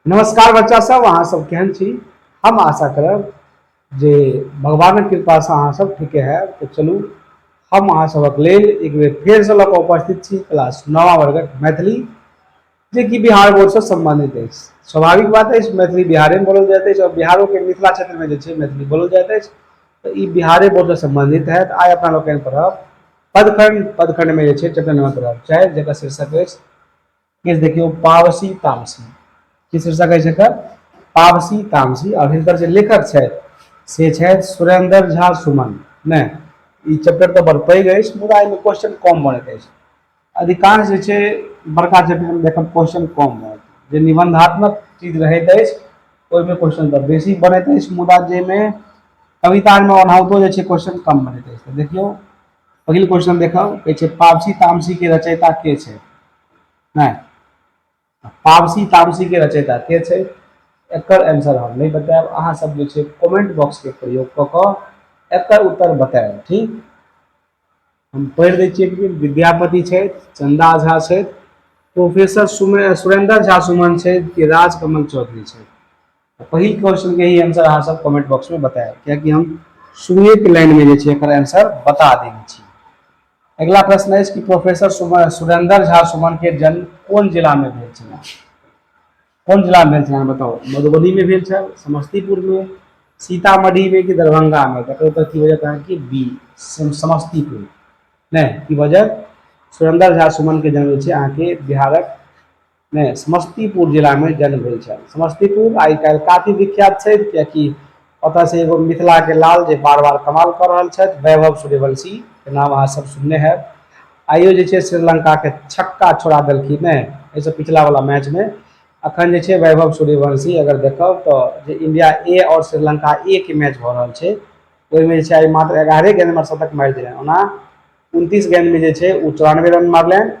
नमस्कार बच्चा सब अहाँ सब केहन छी हम आशा करब जे भगवानक कृपासँ अहाँ सब ठीके है तो चलू हम अहाँ सबक लेल एक बेर फेरसँ लऽ कऽ उपस्थित छी क्लास नवा वर्गक मैथिली जे कि बिहार बोर्डसँ सम्बन्धित अछि स्वाभाविक बात अछि मैथिली बिहारेमे बोलल जाइत अछि आओर बिहारोके मिथिला क्षेत्रमे जे छै मैथिली बोलल जाइत अछि तऽ ई बिहारे बोर्डसँ सम्बन्धित हएत आइ अपना लोकनि पढ़ब पदखंड पदखंडमे जे छै चैप्टर नंबर पढ़ब चाहे जकर शीर्षक अछि किछु देखियौ पावसी तामसी की शीर्षक अछि एकर पावसी तामसी आओर हिनकर जे लेखक छथि से छथि सुरेंद्र झा सुमन नहि ई चैप्टर तऽ बड़ पैघ अछि मुदा एहिमे क्वेश्चन कम बनैत अछि अधिकांश जे छै बड़का चैप्टरमे देखब क्वेश्चन कम बनत जे निबंधात्मक चीज रहैत अछि ओहिमे क्वेश्चन तऽ बेसी बनैत अछि मुदा जाहिमे कवितामे ओनाहितो जे छै क्वेश्चन कम बनैत अछि देखियौ पहिल क्वेश्चन देखब कहै छै पावसी तामसी के रचयिता के छै नहि पावसी तामसीके रचयिता के छै एकर आंसर हम नहि बतायब अहाँ सब जे छै कमेंट बॉक्सके प्रयोग कऽ कऽ एकर उत्तर बतायब ठीक हम पढ़ि दै छियै कि विद्यापति छथि चंदा झा छथि प्रोफेसर सुमे सुरेंद्र झा सुमन छथि कि राजकमल चौधरी छथि पहिल क्वेश्चन के ही आंसर अहाँ सब कमेंट बॉक्स में बताएब कियाकि हम शुरुए के लाइन में जे छै एकर आंसर बता देने छी अगला प्रश्न अछि कि प्रोफेसर सुरेंद्र झा सुमन के जन्म कोन जिला में भेल छल कोन जिला में भेल छल बताओ मधुबनी में भेल छल समस्तीपुर में सीतामढ़ी में कि दरभंगा में तकर उत्तर की वजह कहा कि बी समस्तीपुर नहीं की वजह सुरेंद्र झा सुमन के जन्म छै अहाँ के बिहारक मे समस्तीपुर जिलामे जन्म भेल छल समस्तीपुर आइ काल्हि काफी विख्यात छै किएकि ओतऽ से एगो मिथिलाके लाल जे बार बार कमाल कऽ रहल छथि वैभव सूर्यवंशीके नाम अहाँ सब सुनने होयब आइयो जे छै श्रीलंकाके छक्का छोड़ा देलखिन हेँ एहिसँ पिछला वला मैचमे अखन जे छै वैभव सूर्यवंशी अगर देखब तऽ जे इंडिया ए आओर श्रीलंका ए के मैच भऽ रहल छै ओहिमे जे छै आइ मात्र एगारहे गेंदमे शतक मारि देलनि ओना उनतीस गेंदमे जे छै ओ चौरानबे रन मारलनि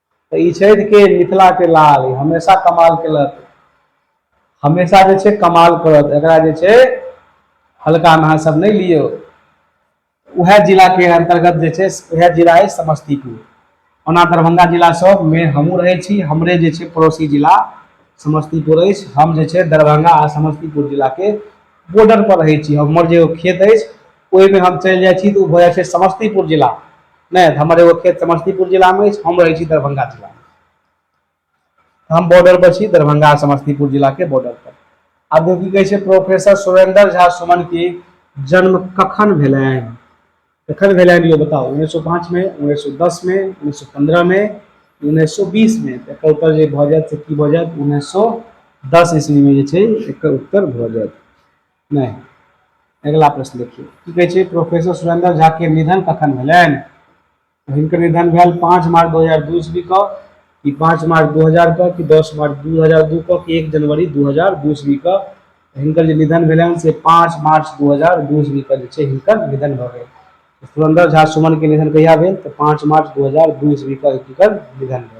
तऽ ई छथि के मिथिलाके लाल ई हमेशा कमाल केलक हमेशा जे छै कमाल करत एकरा जे छै हल्कामे अहाँ सब नहि लियौ उएह जिलाके अंतर्गत जे छै उएह जिला अछि समस्तीपुर ओना दरभंगा जिलासभमे हमहूँ रहै छी हमरे जे छै पड़ोसी जिला समस्तीपुर अछि हम जे छै दरभंगा आ समस्तीपुर जिलाके बॉर्डरपर रहै छी हमर जे ओ खेत अछि ओहिमे हम चलि जाइ छी तऽ ओ भऽ जाइ छै समस्तीपुर जिला नहि तऽ हमर एगो खेत समस्तीपुर जिलामे अछि हम रहै छी दरभंगा जिलामे हम बॉर्डर पर छी दरभंगा समस्तीपुर जिलाके बॉर्डर पर आब की कहै छै प्रोफेसर सुरेंद्र झा सुमन की जन्म कखन भेलनि कखन भेलनि यो बताउ उन्नैस सए पाँचमे उन्नैस सए दसमे उन्नैस सए पन्द्रहमे उन्नैस सए बीसमे तऽ एकर उत्तर जे भऽ जायत से की भऽ जायत उन्नैस सए दस ईस्वीमे जे छै एकर उत्तर भऽ जायत नहि अगिला प्रश्न देखियौ की कहै छै प्रोफेसर सुरेंद्र झा के निधन कखन भेलनि तो हिनकर निधन भेल पाँच मार्च दू हजार दू ईस्वी को कि पाँच मार्च दू हजार को कि दस मार्च दू हजार दू को कि एक जनवरी दू हजार दू ईस्वी को हिनकर जे निधन भेलनि से पाँच मार्च दू हजार दू ईस्वी को जे छै हिनकर निधन भऽ गेल सुरेंद्र झा सुमन के निधन कहिया भेल तऽ पाँच मार्च दू हजार दू ईस्वी को हिनकर निधन भेल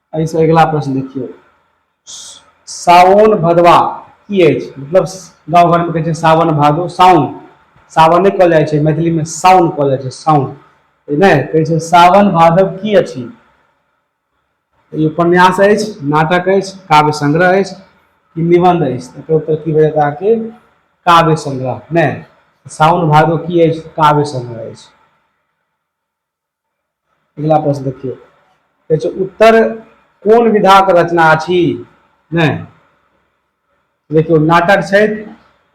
एहिसँ अगिला प्रश्न देखियौ सावन भदवा की अछि मतलब गाँव घरमे कहै छै सावन भादो साउन सावने कहल जाइ छै मैथिलीमे साउन कहल जाइ छै साउन नहि कहै छै सावन भादव की अछि ई उपन्यास अछि नाटक अछि काव्य संग्रह अछि कि निबंध अछि एकर उत्तर की भए जाएत अहाँके काव्य संग्रह नहि साउन भादो की अछि काव्य संग्रह अछि अगिला प्रश्न देखियौ कहै छै उत्तर कोन विधाक रचना अछि नहि देखियौ नाटक छथि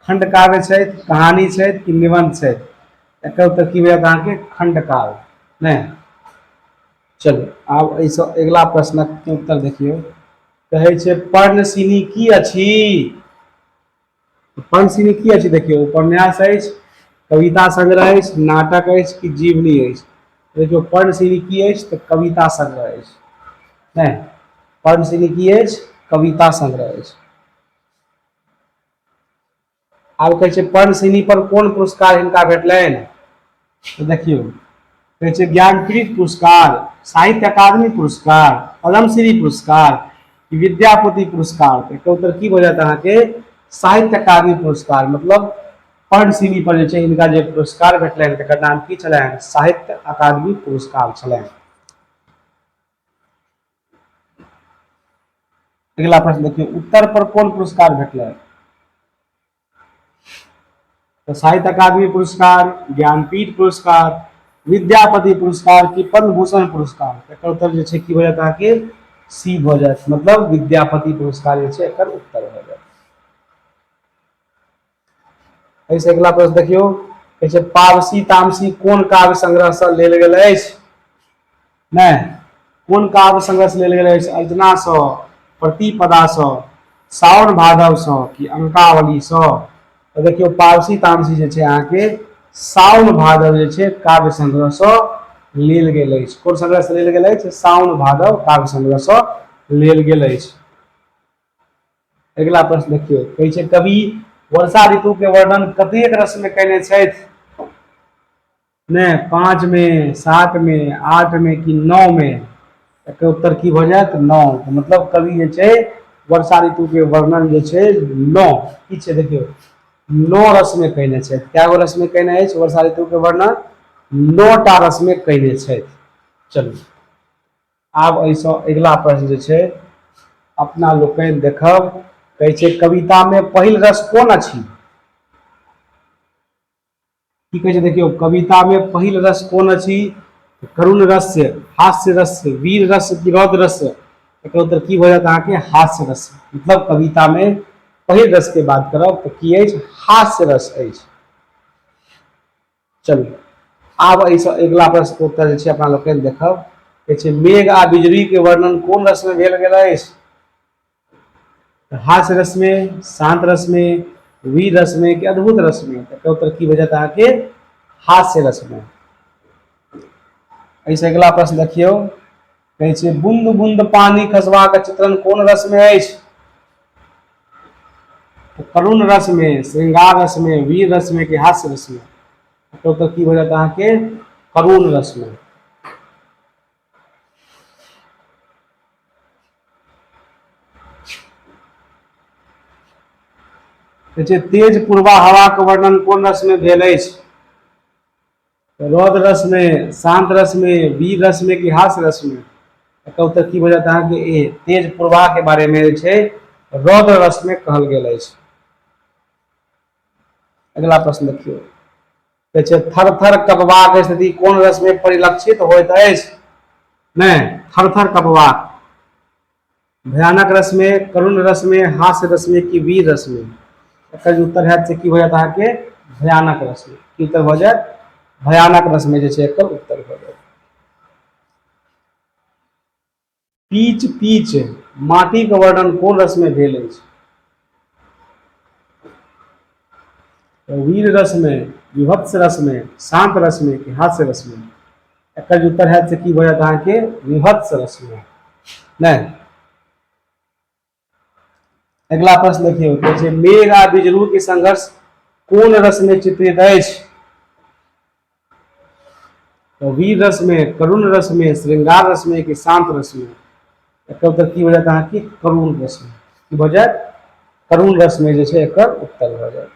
खंड काव्य छथि कहानी छथि कि निबंध छथि एकर उत्तर की भेल अहाँके खंड काव्य नहि चलू आब एहिसँ अगिला प्रश्नक उत्तर देखियौ कहै छै पर्णसिनी की अछि पंचमी की अछि देखियौ उपन्यास अछि कविता संग्रह अछि नाटक अछि कि जीवनी अछि देखियौ पर्णशिनी की अछि तऽ कविता संग्रह अछि नहि पर्णशिनी की अछि कविता संग्रह अछि आब कहै छै पर्णशिनी पर कोन पुरस्कार हिनका भेटलनि तऽ देखियौ कहै छै ज्ञानपीठ पुरस्कार साहित्य अकादमी पुरस्कार पद्मश्री पुरस्कार विद्यापति पुरस्कार तऽ एकर उत्तर की भऽ जायत अहाँके साहित्य अकादमी पुरस्कार मतलब पद्मश्री पर जे छै हिनका जे पुरस्कार भेटलनि तकर नाम की छलनि साहित्य अकादमी पुरस्कार छलनि अगिला प्रश्न देखियौ उत्तर पर कोन पुरस्कार भेटलनि तऽ साहित्य अकादमी पुरस्कार ज्ञानपीठ पुरस्कार विद्यापति पुरस्कार की पद्मभूषण पुरस्कार एकर उत्तर जे छै की भऽ जायत अहाँके सी भऽ जायत मतलब विद्यापति पुरस्कार जे छै एकर उत्तर भऽ जायत एहिसँ अगिला प्रश्न देखियौ कहै छै पावसी तामसी कोन काव्य संग्रहसँ लेल गेल अछि नहि कोन काव्य संघर्ष लेल गेल अछि अर्जनासँ प्रतिपदासँ सावन भादवसँ कि अंकावलीसँ तऽ देखियौ पारसी तामसी जे छै अहाँके सावन भादव जे छै काव्य संग्रहसँ लेल गेल अछि कोन संग्रहसँ लेल गेल अछि सावन भादव काव्य संग्रहसँ लेल गेल अछि अगिला प्रश्न देखियौ कहै छै कवि वर्षा ऋतु के वर्णन कतेक रस में कयने छथि नहि पाँचमे सातमे आठमे कि नओमे एकर उत्तर की भऽ जायत नओ मतलब कवि जे छै वर्षा ऋतुके वर्णन जे छै नओ की छै देखियौ नओ रसमे कयने छथि कए गो रसमे कयने अछि वर्षा ऋतुके वर्णन नओ टा रसमे कयने छथि चलू आब एहिसँ अगिला प्रश्न जे छै अपना लोकनि देखब कहै छै कवितामे पहिल रस कोन अछि की कहै छै देखियौ कवितामे पहिल रस कोन अछि करुण रस्य हास्य रस्य वीर रस्य कि रौद्र रस्य एकर उत्तर की भऽ जायत अहाँके हास्य रस मतलब कवितामे पहिल रसके बात करब तऽ की अछि हास्य रस अछि चलू आब एहिसँ अगिला प्रश्नके उत्तर जे छै अपना लोकनि देखब कहै छै मेघ आ बिजलीके वर्णन कोन रसमे भेल गेल अछि तऽ हास्य रसमे शान्त रसमे वीर रसमे कि अद्भुत रसमे तऽ एकर उत्तर की भऽ जायत अहाँके हास्य रसमे एहिसँ अगिला प्रश्न देखियौ कहै छै बुंद बुंद पानी खसबाक चित्रण कोन रस में अछि तो करुण रस में श्रृंगार रस में वीर रस में कि हास्य रस में तो तो की हो जाता है कि करुण रस में जे तेज पूर्वा हवा के वर्णन कोन रस में भेल अछि रौद रस में शांत रस में वीर रस में कि हास रस में एकर उत्तर की बजत अहाँ के ए तेज पूर्वा के बारे में जे छै रौद रस में कहल गेल अछि अगला प्रश्न देखियो कहै छै थर थर कपबाक स्थिति कोन रसमे परिलक्षित होइत अछि नहि थर थर कपबाक भयानक रसमे करुण रसमे हास्य रसमे कि वीर रसमे एकर जे उत्तर हैत से की भऽ जायत अहाँके भयानक रसमे की उत्तर भऽ जायत भयानक रसमे जे छै एकर उत्तर भऽ जायत पीच पीच माटिक वर्णन कोन रसमे भेल अछि वीर रसमे विभत्स रसमे शांत रसमे कि हास्य रसमे एकर उत्तर है से की भऽ जायत अहाँके विभत्स रसमे नहि अगिला प्रश्न देखियौ कहै छै मेघ आ बिजरू के संघर्ष कोन रस में चित्रित अछि तो वीर रस में करुण रस में श्रृंगार रस में कि शांत रस में एकर उत्तर की हो जात अहाँ की करुण रस में की भ जात करुण रस में जे छै एकर उत्तर भ जात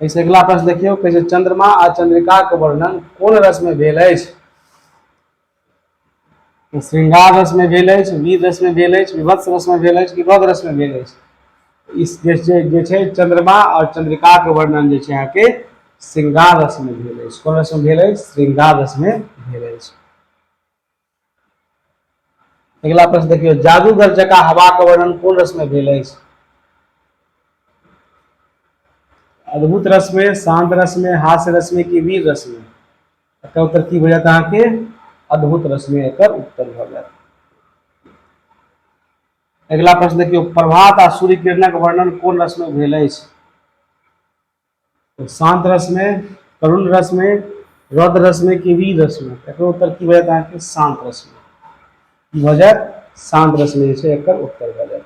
ऐसे अगिला प्रश्न देखियौ कहै छै चंद्रमा आ चंद्रिका के वर्णन कोन रस में भेल अछि ओ श्रृंगार रसमे भेल अछि वीर रसमे भेल अछि विभत्स रसमे भेल अछि विभव रसमे भेल अछि इस जे छै जे छै चंद्रमा और चंद्रिका के वर्णन जे छै अहाँके श्रृंगार रसमे भेल अछि कोन रसमे भेल अछि श्रृंगार रसमे भेल अछि अगिला प्रश्न देखियौ जादूगर जका हवा के वर्णन कोन रसमे भेल अछि अद्भुत रसमे शांत रसमे हास्य रसमे कि वीर रसमे एकर उत्तर की भऽ जायत अहाँके अद्भुत रश्मि एकर उत्तर भऽ जायत अगिला प्रश्न देखियौ प्रभात आ सूर्य किरणक वर्णन कोन रश्मि भेल अछि शांत रश्मि करुण रश्मि रौद्र रश्मि की वीर रश्मि एकर उत्तर की भऽ जायत अहाँके शांत रश्मि की भऽ जायत शांत रश्मि जे छै एकर उत्तर भऽ जायत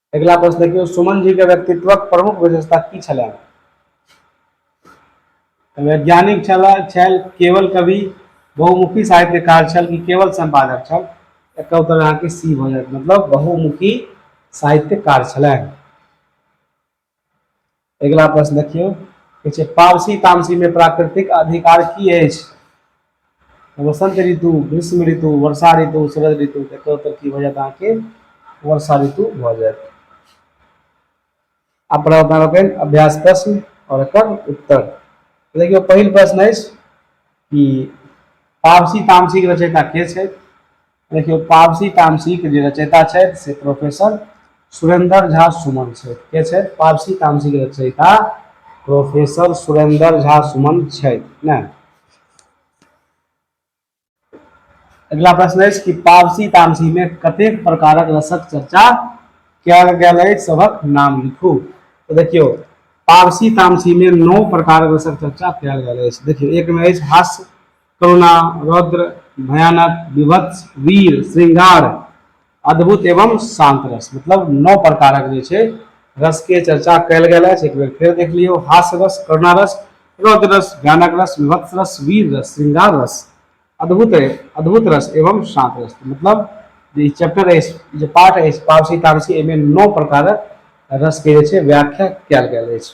अगिला प्रश्न देखियौ सुमन जी के व्यक्तित्वक प्रमुख विशेषता की छलै वैज्ञानिक छल छल केवल कवि बहुमुखी साहित्यकार छल कि केवल संपादक छल एक उत्तर अहाँके सी भऽ जायत मतलब बहुमुखी साहित्यकार छलनि अगिला प्रश्न देखियौ कहै छै पावसी तामसीमे प्राकृतिक अधिकार की अछि वसंत ऋतु ग्रीष्म ऋतु वर्षा ऋतु शरद ऋतु एकर उत्तर की भऽ जायत अहाँके वर्षा ऋतु भऽ जायत आ प्रवर्तन लोकनि अभ्यास प्रश्न और एकर उत्तर देखियौ पहिल प्रश्न अछि कि पावसी तामसीक रचयिता के छथि देखियौ पावसी तामसीके जे रचयिता छथि से प्रोफेसर सुरेंद्र झा सुमन छथि के छथि पावसी तामसीके रचयिता प्रोफेसर सुरेंद्र झा सुमन छथि ने अगला प्रश्न अछि कि पावसी तामसीमे कतेक प्रकारक रसक चर्चा कयल गेल अछि सभक नाम लिखू तऽ देखियौ पावसी तामसीमे नौ प्रकारक रसक चर्चा कयल गेल अछि देखियौ एकमे अछि हास्य करुणा रौद्र भयानक विभत्स वीर श्रृंगार अद्भुत एवं शांत रस मतलब नौ प्रकारक जे छै रस के चर्चा कयल गेल अछि एक बेर फेर देख लियौ हास्य रस करुणा रस रौद्र रस भयानक रस विभत्स रस वीर रस श्रृंगार रस अद्भुत अद्भुत रस एवं शांत रस मतलब जे चैप्टर अछि जे पाठ अछि पावसी तारसी एहिमे नौ प्रकारक रस के जे छै व्याख्या कयल गेल अछि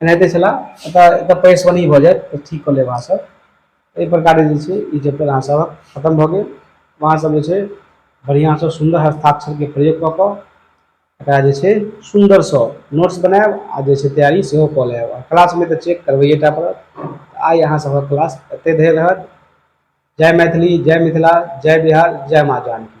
एनाहिते छलए एतऽ एतऽ परेशानी भऽ जायत तऽ ठीक कऽ लेब अहाँ सब एहि प्रकारे जे छै ई चैप्टर अहाँ सब खतम भऽ गेल अहाँ सब जे छै बढ़िआँ सँ सुन्दर हस्ताक्षरके प्रयोग कऽ कऽ एकरा जे छै सुन्दर सँ नोट्स बनायब आ जे छै तैयारी सेहो कऽ लेब आ क्लासमे तऽ चेक करबैये टा पड़त आइ अहाँ सबहक क्लास एते धरि रहत जय मैथिली जय मिथिला जय बिहार जय माँ जानकी